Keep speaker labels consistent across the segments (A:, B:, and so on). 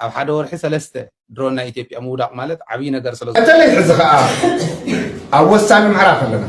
A: ኣብ ሓደ ወርሒ ሰለስተ ድሮን ናይ ኢትዮጵያ ምውዳቕ ማለት ዓብዪ ነገር ስለ በተለይ ሕዚ ከዓ
B: ኣብ ወሳኒ ምዕራፍ ኣለና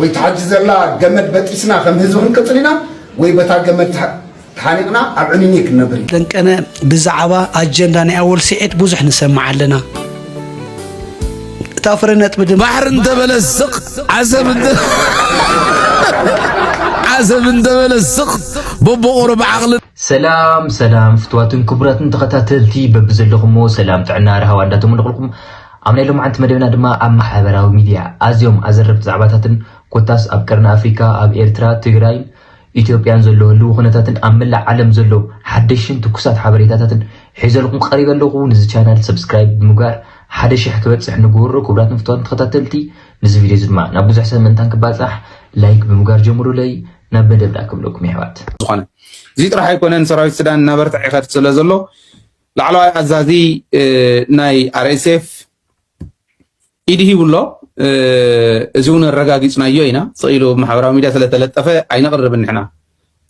B: ወይ ተሓጂ ዘላ ገመድ በጢስና ከም ህዝቢ ክንቅፅል ኢና ወይ በታ ገመድ ተሓኒቕና ኣብ ዕንኒ ክንነብር ኢና ደንቀነ ብዛዕባ
C: ኣጀንዳ ናይ ኣወል ስዒድ ብዙሕ ንሰምዕ ኣለና እታ ፍረ ነጥቢ ድማ ባሕሪ እንተበለ
D: ስቕ ዓሰብ እንተ ዓሰብ እንተበለ ስቕ በቦቆሮ ብዓቕሊ ሰላም ሰላም
E: ፍትዋትን ክቡራትን ተኸታተልቲ በብዘለኹሞ ሰላም ጥዕና ርሃዋ እንዳተመነቕልኩም ኣብ ናይ ሎምዓንቲ መደብና ድማ ኣብ ማሕበራዊ ሚድያ ኣዝዮም ኣዘረብቲ ዛዕባታትን ኮታስ ኣብ ቀርኒ ኣፍሪካ ኣብ ኤርትራ ትግራይን ኢትዮጵያን ዘሎ ህልዊ ኩነታትን ኣብ መላእ ዓለም ዘሎ ሓደሽን ትኩሳት ሓበሬታታትን ሒዘልኩም ቀሪበ ኣለኹ ንዚ ቻናል ሰብስክራይብ ብምግባር ሓደ ሽሕ ክበፅሕ ንግበሮ ክብራት ንፍትዋትን ተኸታተልቲ ንዚ ቪድዮ እዚ ድማ ናብ ብዙሕ ሰብ ምእንታን ክባፃሕ ላይክ ብምግባር ጀምሩለይ ናብ መደብና ክብለኩም ይሕዋት ዝኾነ እዚ
A: ጥራሕ ኣይኮነን ሰራዊት ሱዳን እናበርትዐ ይኸድ ስለ ዘሎ ላዕለዋይ ኣዛዚ ናይ ኣርኤስኤፍ ኢድ ሂቡ ኣሎ እዚ እውን ኣረጋጊፅናዮ ኢና ስቕ ኢሉ ማሕበራዊ ሚድያ ስለተለጠፈ ኣይነቕርብን ንሕና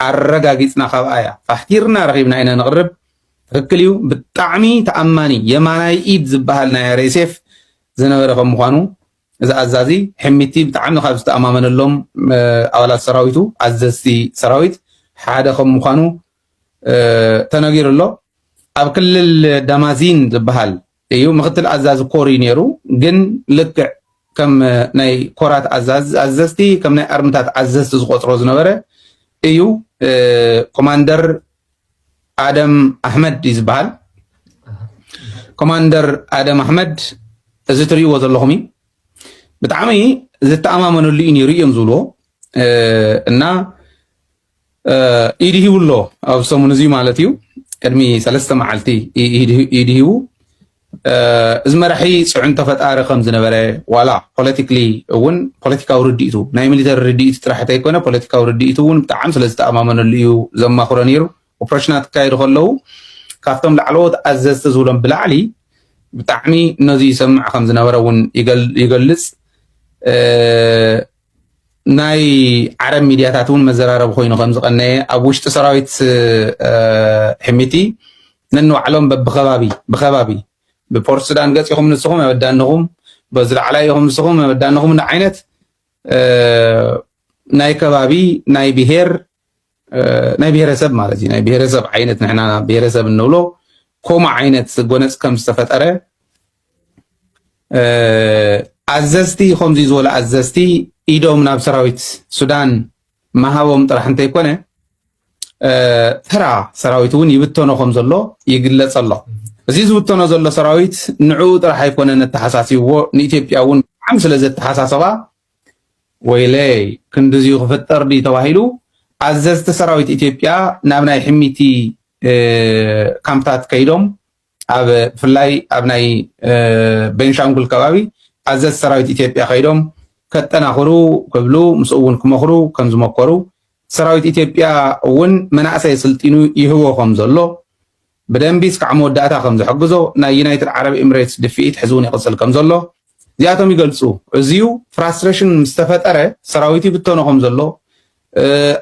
A: ኣረጋጊፅና ካብኣ እያ ፋሕቲርና ረኺብና ኢና ነቕርብ ትክክል እዩ ብጣዕሚ ተኣማኒ የማናይ ኢድ ዝበሃል ናይ ኣርኤስኤፍ ዝነበረ ከም ምኳኑ እዚ ኣዛዚ ሕሚቲ ብጣዕሚ ካብ ዝተኣማመነሎም ኣባላት ሰራዊቱ፣ ኣዘዝቲ ሰራዊት፣ ሓደ ከም ምዃኑ ተነጊሩ ኣሎ። ኣብ ክልል ዳማዚን ዝበሃል እዩ ምክትል ኣዛዚ ኮር እዩ ነይሩ። ግን ልክዕ ከም ናይ ኮራት ኣዘዝቲ ከም ናይ ኣርምታት ኣዘዝቲ ዝቆፅሮ ዝነበረ እዩ። ኮማንደር ኣደም ኣሕመድ እዩ ዝበሃል። ኮማንደር ኣደም ኣሕመድ እዚ ትርእይዎ ዘለኹም እዩ ብጣዕሚ ዝተኣማመነሉ እዩ ነይሩ እዮም ዝብልዎ እና ኢድ ሂቡ ኣሎ ኣብ ሰሙን እዚ ማለት እዩ ቅድሚ ሰለስተ መዓልቲ ኢድ ሂቡ እዚ መራሒ ፅዕንቶ ፈጣሪ ከም ዝነበረ ዋላ ፖለቲክሊ እውን ፖለቲካዊ ርድኢቱ ናይ ሚሊተሪ ርድኢቱ ጥራሕ እንተይኮነ ፖለቲካዊ ርድኢቱ እውን ብጣዕሚ ስለ ዝተኣማመነሉ እዩ ዘማኽሮ ነይሩ ኦፕሬሽናት ክካየዱ ከለዉ ካብቶም ላዕለዎት ኣዘዝቲ ዝብሎም ብላዕሊ ብጣዕሚ ነዚ ይሰምዕ ከም ዝነበረ እውን ይገልፅ ናይ ዓረብ ሚድያታት እውን መዘራረቢ ኮይኑ ከም ዝቐነየ ኣብ ውሽጢ ሰራዊት ሕሚቲ ነንባዕሎም በብከባቢ ብከባቢ ብፖርት ሱዳን ገፂኹም ንስኹም ኣበዳንኹም በዚ ላዕላይ ኢኹም ንስኹም ኣበዳንኹም ዓይነት ናይ ከባቢ ናይ ብሄር ናይ ብሄረሰብ ማለት እዩ ናይ ብሄረሰብ ዓይነት ንሕና ብሄረሰብ እንብሎ ከምኡ ዓይነት ጎነፅ ከም ዝተፈጠረ ኣዘዝቲ ከምዚ ዝበሉ ኣዘዝቲ ኢዶም ናብ ሰራዊት ሱዳን ምሃቦም ጥራሕ እንተይኮነ ተራ ሰራዊት እውን ይብተኖ ከም ዘሎ ይግለፅ ኣሎ እዚ ዝብተኖ ዘሎ ሰራዊት ንዕኡ ጥራሕ ኣይኮነን ኣተሓሳሲብዎ ንኢትዮጵያ እውን ብጣዕሚ ስለ ዘተሓሳሰባ ወይለይ ክንድዚዩ ክፍጠር ድዩ ተባሂሉ ኣዘዝቲ ሰራዊት ኢትዮጵያ ናብ ናይ ሕሚቲ ካምፕታት ከይዶም ኣብ ብፍላይ ኣብ ናይ ቤንሻንጉል ከባቢ ኣዘዝ ሰራዊት ኢትዮጵያ ከይዶም ከጠናኽሩ ክብሉ ምስኡ እውን ክመኽሩ ከም ዝመከሩ ሰራዊት ኢትዮጵያ እውን መናእሰይ ስልጢኑ ይህቦ ከም ዘሎ ብደንቢ እስካዕ መወዳእታ ከም ዝሕግዞ ናይ ዩናይትድ ዓረብ ኢምሬትስ ድፍኢት ሕዚ እውን ይቕፅል ከም ዘሎ እዚኣቶም ይገልፁ። እዚዩ ፍራስትሬሽን ምስ ተፈጠረ ሰራዊት ይብተኖ ከም ዘሎ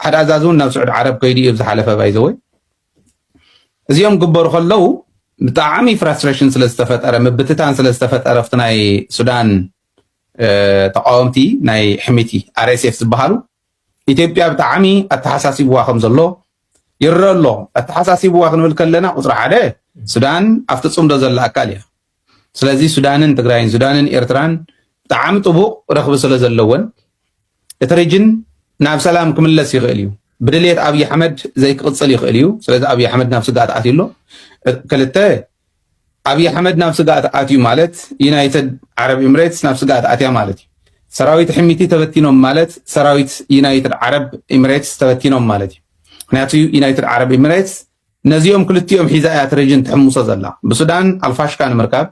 A: ሓደ ኣዛዚ እውን ናብ ስዑድ ዓረብ ከይዱ እዩ ዝሓለፈ ባይዘወይ እዚኦም ግበሩ ከለው ብጣዕሚ ፍራስትሬሽን ስለ ዝተፈጠረ ምብትታን ስለ ዝተፈጠረ ኣብቲ ናይ ሱዳን ተቃወምቲ ናይ ሕሚቲ ኣርኤስኤፍ ዝበሃሉ ኢትዮጵያ ብጣዕሚ ኣተሓሳሲብዋ ከም ዘሎ ይረአ ኣሎ። ኣተሓሳሲብዋ ክንብል ከለና ቁፅሪ ሓደ ሱዳን ኣብቲ ፅምዶ ዘላ ኣካል እያ። ስለዚ ሱዳንን ትግራይን ሱዳንን ኤርትራን ብጣዕሚ ጥቡቕ ረኽቢ ስለ ዘለወን እቲ ሪጅን ናብ ሰላም ክምለስ ይኽእል እዩ። ብድልየት ኣብዪ ኣሕመድ ዘይክቕፅል ይኽእል እዩ። ስለዚ ኣብዪ ኣሕመድ ናብ ስግኣት ኣትዩ ኣሎ። ክልተ ኣብይ ኣሕመድ ናብ ስግኣት ኣትዩ ማለት ዩናይትድ ዓረብ ኢምሬትስ ናብ ስግኣት ኣትያ ማለት እዩ። ሰራዊት ሕሚቲ ተበቲኖም ማለት ሰራዊት ዩናይትድ ዓረብ ኢምሬትስ ተበቲኖም ማለት እዩ። ምክንያቱ ዩናይትድ ዓረብ ኢምሬትስ ነዚኦም ክልቲኦም ሒዛ እያ እቲ ሬጅን ትሕምሶ ዘላ ብሱዳን ኣልፋሽካ ንምርካብ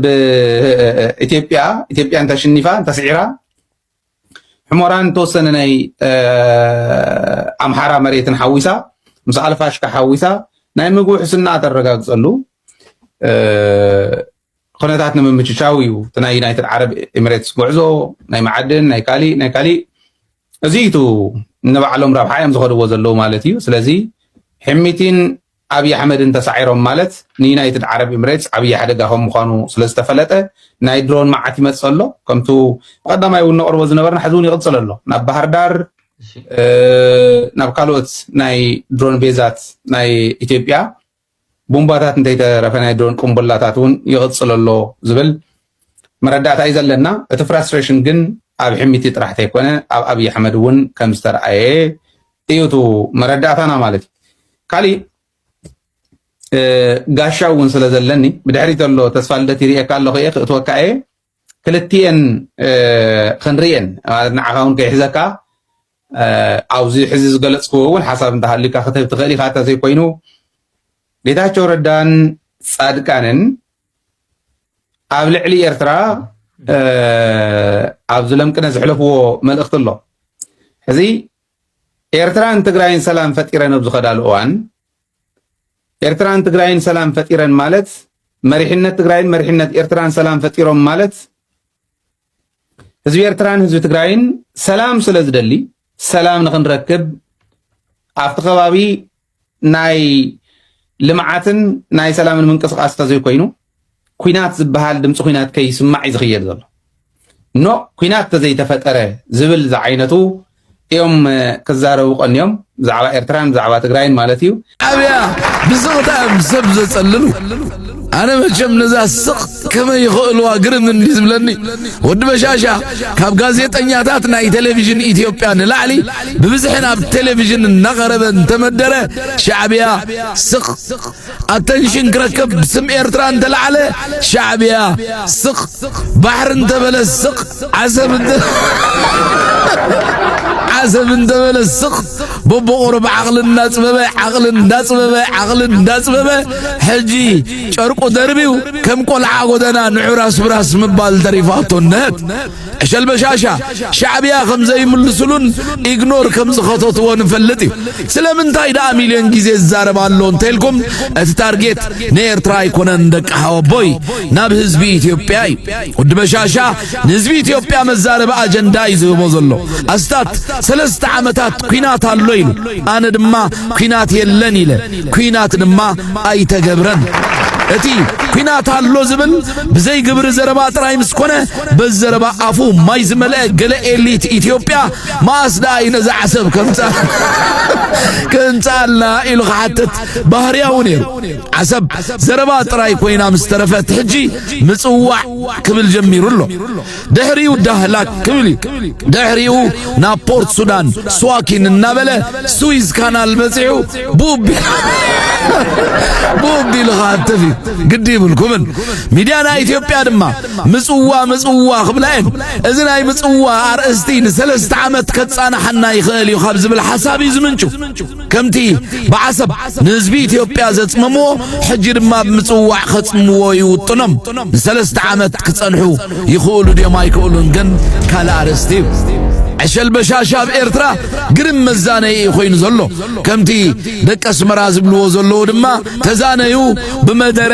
A: ብኢትዮጵያ ኢትዮጵያ እንተሽኒፋ እንተስዒራ ሕሞራን ተወሰነ ናይ ኣምሓራ መሬትን ሓዊሳ ምስ ኣልፋሽካ ሓዊሳ ናይ ምግቢ ውሕስና ተረጋግፀሉ ኩነታት ንምምችቻው እዩ እቲ ናይ ዩናይትድ ዓረብ ኤሚሬትስ ጉዕዞ ናይ መዓድን ናይ ካሊእ ናይ ካሊእ እዚ እቲ ንባዕሎም ረብሓ እዮም ዝኸድዎ ዘለዉ ማለት እዩ ስለዚ ሕሚቲን ኣብይ ኣሕመድን ተሳዒሮም ማለት ንዩናይትድ ዓረብ ኤምሬትስ ዓብይ ሓደጋ ከም ምዃኑ ስለ ዝተፈለጠ ናይ ድሮን መዓት ይመፅእ ኣሎ ከምቱ ብቀዳማይ እውን ነቅርቦ ዝነበርና ሕዚ እውን ይቅፅል ኣሎ ናብ ባህርዳር ናብ ካልኦት ናይ ድሮን ቤዛት ናይ ኢትዮጵያ ቦምባታት እንተይተረፈ ናይ ድሮን ቅንቡላታት እውን ይቅፅል ኣሎ ዝብል መረዳእታ እዩ ዘለና እቲ ፍራስትሬሽን ግን ኣብ ሕሚቲ ጥራሕ ተይኮነ ኣብ ኣብይ ኣሕመድ እውን ከም ዝተርኣየ እዩ እቲ መረዳእታና ማለት እዩ ካሊእ ጋሻ እውን ስለ ዘለኒ ብድሕሪ ዘሎ ተስፋ ልደት ይርእየካ ኣለኹ እየ ክእትወካ እየ ክልትኤን ክንርእየን ማለት ንዓኻ እውን ከይሕዘካ ኣብዚ ሕዚ ዝገለፅክዎ እውን ሓሳብ እንተሃልዩካ ክትህብ ትኽእል ኢኻ እንተዘይኮይኑ ጌታቸው ረዳን ፃድቃንን ኣብ ልዕሊ ኤርትራ ኣብ ዝለምቅነ ዝሕለፍዎ መልእኽቲ ኣሎ እዚ ኤርትራን ትግራይን ሰላም ፈጢረን ኣብ ዝኸዳሉ እዋን ኤርትራን ትግራይን ሰላም ፈጢረን ማለት መሪሕነት ትግራይን መሪሕነት ኤርትራን ሰላም ፈጢሮም ማለት ህዝቢ ኤርትራን ህዝቢ ትግራይን ሰላም ስለ ዝደሊ ሰላም ንክንረክብ ኣብቲ ከባቢ ናይ ልምዓትን ናይ ሰላምን ምንቅስቃስ ተዘይኮይኑ ኩናት ዝበሃል ድምፂ ኩናት ከይስማዕ እዩ ዝኽየድ ዘሎ ኖ ኩናት ተዘይተፈጠረ ዝብል ዝዓይነቱ እዮም ክዛረቡ ቀንዮም ብዛዕባ ኤርትራን ብዛዕባ ትግራይን ማለት እዩ ኣብያ
D: ብስቕታ እዮም ሰብ ዘጸልሉ ኣነ መቸም ነዛ ስቕ ከመይ ይኽእልዋ ግርም እንዲ ዝብለኒ ወዲ በሻሻ ካብ ጋዜጠኛታት ናይ ቴሌቭዥን ኢትዮጵያ ንላዕሊ ብብዝሒ ናብ ቴሌቭዥን እናቐረበ እንተመደረ ሻዕብያ ስቕ ኣተንሽን ክረክብ ብስም ኤርትራ እንተለዓለ ሻዕብያ ስቕ ባሕሪ እንተበለ ስቕ ዓሰብ እንተ ዓሰብ እንተበለ ስቕ በቦቑሩ ብዓቕሊ እንዳፅበበ ዓቕሊ እንዳፅበበ ዓቕሊ እንዳፅበበ ሕጂ ጨርቁ ደርቢው ከም ቆልዓ ጎደና ንዑራስ ብራስ ምባል ተሪፋቶ እነሀት ዕሸል በሻሻ ሻዕብያ ከም ዘይምልስሉን ኢግኖር ከም ዝኸተትዎ ንፈልጥ እዩ ስለምንታይ ደኣ ሚልዮን ግዜ ዝዛረብ ኣሎ እንተልኩም እቲ ታርጌት ንኤርትራ ኣይኮነን ደቂ ሓወቦይ ናብ ህዝቢ ኢትዮጵያ እዩ ወዲ በሻሻ ንህዝቢ ኢትዮጵያ መዛረቢ ኣጀንዳ እዩ ዝህቦ ዘሎ ኣስታት ሰለስተ ዓመታት ኩናት ኣሎ ኢሉ ኣነ ድማ ኩናት የለን ኢለ ኩናት ድማ ኣይተገብረን እቲ ኩናት ኣሎ ዝብል ብዘይ ግብሪ ዘረባ ጥራይ ምስ ኮነ በዘረባ ኣፉ ማይ ዝመልአ ገለ ኤሊት ኢትዮጵያ መኣስ ደኣ እዩ ነዛ ዓሰብ ከንጻልና ኢሉ ክሓትት ባህርያዊ ነይሩ። ዓሰብ ዘረባ ጥራይ ኮይና ምስ ተረፈት ሕጂ ምጽዋዕ ክብል ጀሚሩ ኣሎ። ድሕሪኡ ዳህላክ ክብል እዩ። ድሕሪኡ ናብ ፖርት ሱዳን ስዋኪን እናበለ ስዊዝ ካናል በጺሑ ቡብ ቡብ ኢሉ ክሃትፍ እዩ ግዲ ይብልኩምን ሚድያና ኢትዮጵያ ድማ ምጽዋ ምጽዋ ክብላ እየን እዚ ናይ ምጽዋ ኣርእስቲ ንሰለስተ ዓመት ከጻናሓና ይኽእል እዩ ካብ ዝብል ሓሳብ እዩ ዝምንጩ ከምቲ ብዓሰብ ንህዝቢ ኢትዮጵያ ዘጽመምዎ ሕጂ ድማ ብምጽዋዕ ከጽምዎ ይውጥኖም ንሰለስተ ዓመት ክጸንሑ ይኽእሉ ድዮም ኣይክእሉን ግን ካልእ ኣርእስቲ እዩ ዕሸል በሻሻ ኣብ ኤርትራ ግርም መዛነዪ እዩ ኮይኑ ዘሎ ከምቲ ደቂ ኣስመራ ዝብልዎ ዘለዉ ድማ ተዛነዩ ብመደረ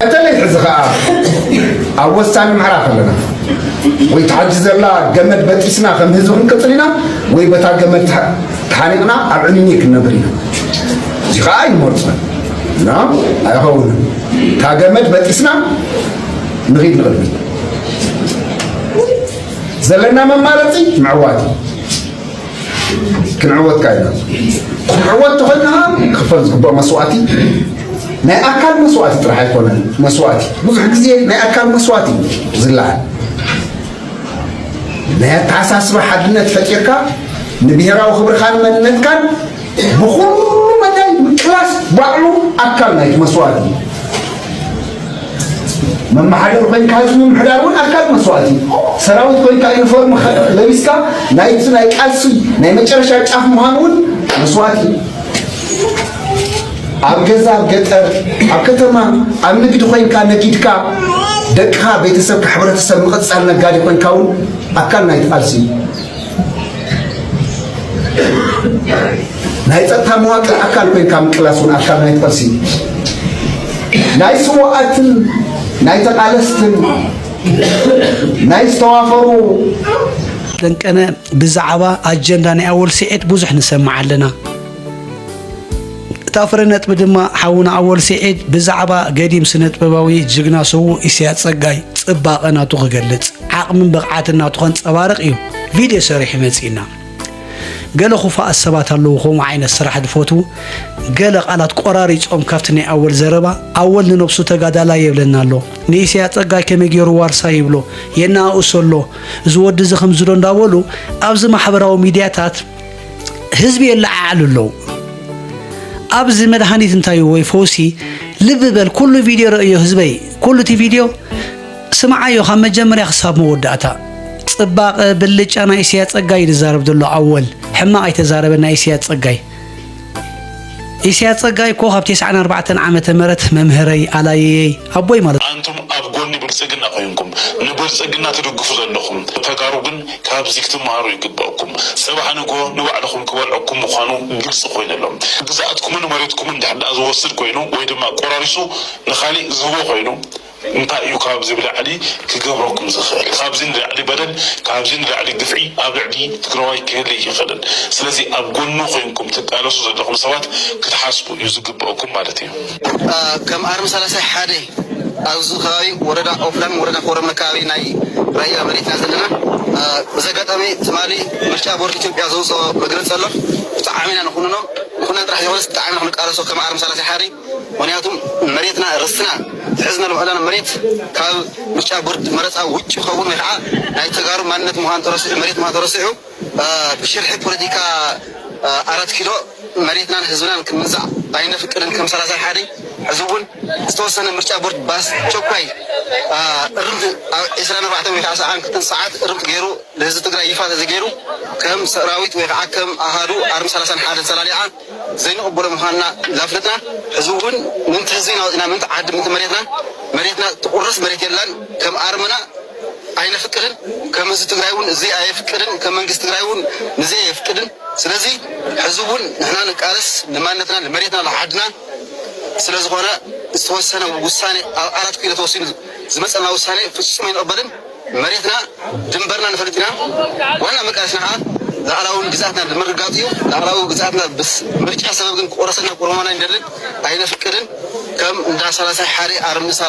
B: በተለይ ሕዚ ከኣ ኣብ ወሳኒ ምዕራፍ ኣለና ወይ እታ ሕጂ ዘላ ገመድ በጢስና ከም ህዝቢ ክንቅጽል ኢና ወይ በታ ገመድ ተሓኒቕና ኣብ ዕንይንይ ክንነብር ኢና እዚ ከኣ ኣይንመርጾን እና ኣይኸውንን እታ ገመድ በጢስና ንኺድ ንቕድሚት ዘለና መማረፂ ምዕዋት እዩ ክንዕወት ከኣ ኢና። ክንዕወት ተኾይና ከኣ ክኽፈል ዝግብኦ መስዋእቲ ናይ ኣካል መስዋእቲ ጥራሕ ኣይኮነን። መስዋእቲ ብዙሕ ግዜ ናይ ኣካል መስዋእቲ እዩ ዝለዓል። ናይ ኣተሓሳስባ ሓድነት ፈጢርካ ንብሔራዊ ክብርኻን መንነትካን ብኹሉ መዳይ ምቅላስ ባዕሉ ኣካል ናይቲ መስዋእቲ እዩ። መመሓደር ኮይንካ ህዝቢ ምምሕዳር እውን ኣካል መስዋእቲ እዩ። ሰራዊት ኮይንካ ዩኒፎርም ለቢስካ ናይቲ ናይ ቃልሲ ናይ መጨረሻ ጫፍ ምዃን እውን መስዋእቲ እዩ። ኣብ ገዛ ኣብ ገጠር ኣብ ከተማ ኣብ ንግዲ ኮይንካ ነጊድካ ደቅኻ ቤተሰብካ ሕብረተሰብ ምቕፃል ነጋዲ ኮይንካ እውን ኣካል ናይቲ ቃልሲ እዩ። ናይ ፀጥታ መዋቅር ኣካል ኮይንካ ምቅላስ እውን ኣካል ናይ ቃልሲ ናይ ስዋኣትን ናይ ተቃለስትን ናይ ዝተዋፈሩ
C: ደንቀነ ብዛዕባ ኣጀንዳ ናይ ኣወል ስዒድ ብዙሕ ንሰምዕ ኣለና። እታ ፍረ ነጥቢ ድማ ሓውና ኣወል ስዒድ ብዛዕባ ገዲም ስነጥበባዊ ጅግና ስዉእ ኢሳያስ ጸጋይ ጽባቐ ናቱ ክገልጽ ዓቕምን ብቕዓትን ናቱ ከንጸባርቕ እዩ ቪድዮ ሰሪሑ መጺእና ገለ ኩፋኣት ሰባት ኣለዉ ከምኡ ዓይነት ስራሕ ዝፈትዉ ገለ ቃላት ቆራሪፆም ካብቲ ናይ ኣወል ዘረባ ኣወል ንነብሱ ተጋዳላ የብለና ኣሎ ንኢስያ ፀጋይ ከመይ ገይሩ ዋርሳ ይብሎ የናእእሶ ኣሎ እዚ ወዲ እዚ ከምዝዶ እንዳበሉ ኣብዚ ማሕበራዊ ሚድያታት ህዝቢ የለዓዕሉ ኣለዉ ኣብዚ መድሃኒት እንታይ ወይ ፈውሲ ልቢ በል ኩሉ ቪድዮ ረእዮ ህዝበይ ኩሉ እቲ ቪድዮ ስምዓዮ ካብ መጀመርያ ክሳብ መወዳእታ ጽባቐ ብልጫ ናይ እስያ ጸጋይ ዝዛረብ ዘሎ ኣወል ሕማቕ ኣይተዛረበ ናይ እስያ ጸጋይ ኢሲያስ ጸጋይ እኮ ካብ ቴስዓን ኣርባዕተን ዓመተ ምህረት መምህረይ ኣላይየይ ኣቦይ ማለት እዩ። ኣንቱም ኣብ ጎኒ
F: ብልጽግና ኮይንኩም ንብልጽግና ትድግፉ ዘለኹም ተጋሩ ግን ካብዚ ክትመሃሩ ይግበእኩም። ጽባሕ ንግሆ ንባዕልኹም ክበልዐኩም ምዃኑ ግልጺ ኮይኑ ኣሎ። ግዝኣትኩምን መሬትኩምን ድሕር ድኣ ዝወስድ ኮይኑ ወይ ድማ ቆራሪሱ ንኻሊእ ዝህቦ ኮይኑ፣ እንታይ እዩ ካብዚ ብላዕሊ ክገብረኩም ዝክእል ካብዚ ንላዕሊ በደል ካብዚ ንላዕሊ ግፍዒ ኣብ ልዕሊ ትግራዋይ ክህሊ ኣይክእልን ስለዚ ኣብ ጎኑ ኮይንኩም ትቃለሱ ዘለኩም ሰባት ክትሓስቡ እዩ ዝግበእኩም ማለት እዩ። ከም
G: ኣርሚ ሰላሳ ሓደ ኣብዚ ከባቢ ወረዳ ኦፍላን ወረዳ ኮረም ኣከባቢ ናይ ራያ መሬት ኢና ዘለና በዚ ኣጋጣሚ ትማሊ ምርጫ ቦርድ ኢትዮጵያ ዘውፀኦ መግለፂ ኣሎ ብጣዕሚ ኢና ንኩንኖ ንኩነን ጥራሕ ዘይኮነስ ብጣዕሚ ኢና ክንቃለሶ ከም ኣርሚ ሰላሳ ሓደ ምክንያቱ መሬትና ርስትና ዝሕዝነሉ ዕላል መሬት ካብ ምርጫ ቦርድ መረፃ ውጭ ክኸውን ወይ ከዓ ናይ ተጋሩ ማንነት ምዃኑ ተረሲዑ መሬት ምዃኑ ተረሲዑ ብሽርሒ ፖለቲካ ኣራት ኪሎ መሬትናን ህዝብናን ክምንዛዕ ኣይነፍቅድን ከም ሰላሳይ ሓደ ሕዚ እውን ዝተወሰነ ምርጫ ቦርድ ብኣስቸኳይ እርምት ኣብ ዕስራን ኣርባዕተን ወይ ከዓ ሰዓን ክልተን ሰዓት እርምት ገይሩ ንህዝቢ ትግራይ ይፋ ተዘይገይሩ ከም ሰራዊት ወይ ከዓ ከም ኣሃዱ ኣርሚ ሰላሳን ሓደን ሰላሊዓ ዘይንቕበሎ ምዃንና ላፍለጥና ሕዚ እውን ምእንቲ ህዝቢና ወፂእና ምእንቲ ዓዲ ምእንቲ መሬትና መሬትና ትቑረስ መሬት የላን ከም ኣርምና ኣይነፍቅድን ከም ህዝቢ ትግራይ እውን እዙይ ኣየፍቅድን ከም መንግስቲ ትግራይ እውን ንዙይ ኣየፍቅድን ስለዙይ ሕዚ እውን ንሕና ንቃለስ ንማንነትና ንመሬትና ንዓድና ስለዝኾነ ዝተወሰነ ውሳኔ ኣብ ኣራት ኪሎ ተወሲኑ ዝመፀና ውሳኔ ፍፁም ኣይንቕበልን። መሬትና ድንበርና ንፈልጥ ኢና ዋና መቃለስና ከኣ ላኣላውን ግዝኣትና ብምርግጋጽ እዩ ላኣላዊ ግዝኣትና ብስ ምርጫ ሰበብ ግን ክቁረሰልና ቁርሞና ኣይንደልን ኣይነፍቅድን ከም እንዳ ሳላሳይ ሓሬ ኣርሚ ሳላ